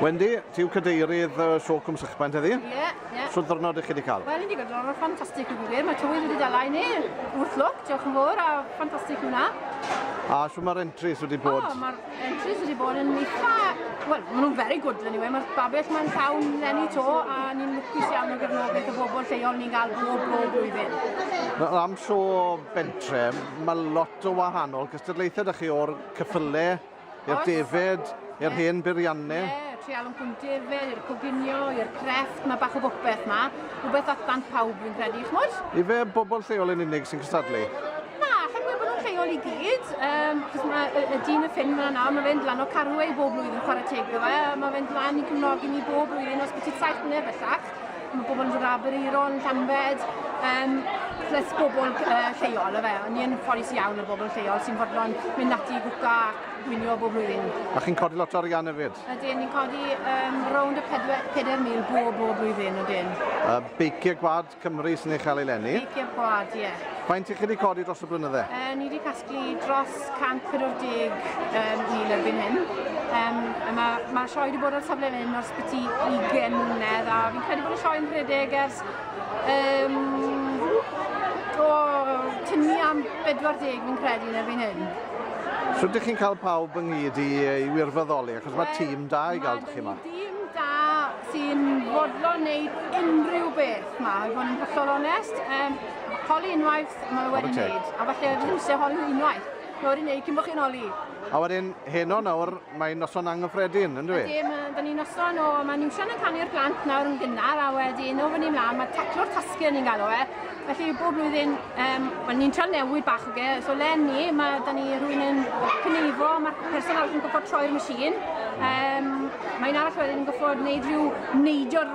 Wendy, ti yw cadeirydd y Sio Cwm Sychbant heddi? Ie, yeah, ie. Yeah. Sut ddwrnod ych chi wedi cael? Wel, wedi cael ddwrnod ffantastig yn gwir. Mae tywydd wedi dala i ni. Wrth lwc, diolch yn fawr a ffantastig yw hwnna. A sut mae'r entries wedi bod? O, mae'r entries wedi bod yn eitha... Wel, maen nhw'n very good, anyway. Mae'r babell mae'n llawn lenni to a ni'n lwcus iawn o gefnogaeth y bobl lleol ni'n cael bob bob blwyddyn. Na, am sio bentre, mae lot o wahanol cystadlaethau da chi o'r cyffylau i'r defaid, i'r hen beirianne. Ie, treial yn cwm defaid, i'r coginio, i'r crefft, mae bach o bopeth ma. Rhywbeth at dan pawb fi'n credu, chmod? Ife bobl lleol yn unig sy'n cystadlu? Na, chi'n gwybod bod nhw'n lleol i gyd, um, achos mae y, y dyn y ffyn fyna nawr, mae fe'n dlan o Carwei bob blwyddyn chwarae teg ddo fe, mae fe'n dlan i cymnogi ni bob blwyddyn os byti saith mlynedd bellach. Mae pobl yn dod Aberaeron, Llambed, um, plus bobl uh, lleol, efe. Ni yn ffodus iawn o bobl lleol sy'n fodlon mynd ati i gwca ac gwylio bob blwyddyn. A chi'n codi lot o arian hefyd? Ydyn, ni'n codi um, rownd y 4,000 bob bob blwyddyn, ydyn. Uh, Beiciau Gwad Cymru sy'n ei chael ei lenni? Beiciau Gwad, ie. Yeah. Faint i chi wedi codi dros y blynydde? Uh, ni wedi casglu Dysgu dros 140,000 erbyn hyn. Um, Mae'r ma sioe wedi bod ar safle fan hyn ers byti 20 mlynedd a fi'n credu bod y sioe yn rhedeg ers um, o tynnu am 40 fi'n credu yn erbyn hyn. So ydych chi'n cael pawb ynghyd i, i wirfoddoli achos mae tîm da i gael chi yma? Tîm da sy'n fodlon wneud unrhyw beth yma, i fod yn hollol onest. Um, holi unwaith, maen nhw wedi wneud. A falle ddim eisiau holi unwaith. Mae wedi wneud cyn bod chi'n holi. A wedyn, heno nawr, mae'n noson anghyffredin, ynddo fe? Ydy, da ni'n noson o, mae nhw'n siarad yn canu'r glant nawr yn gynnar, a wedyn, o fyny mlaen, mae taclo'r tasgu ni'n galw e. Felly, bob blwyddyn, um, well, ni'n trio newid bach o ge, so len ni, mae da ni rhywun yn cyneifo, mae'r person arall yn gyffod troi'r machine. Um, mae'n arall wedyn yn gyffod wneud rhyw neidio'r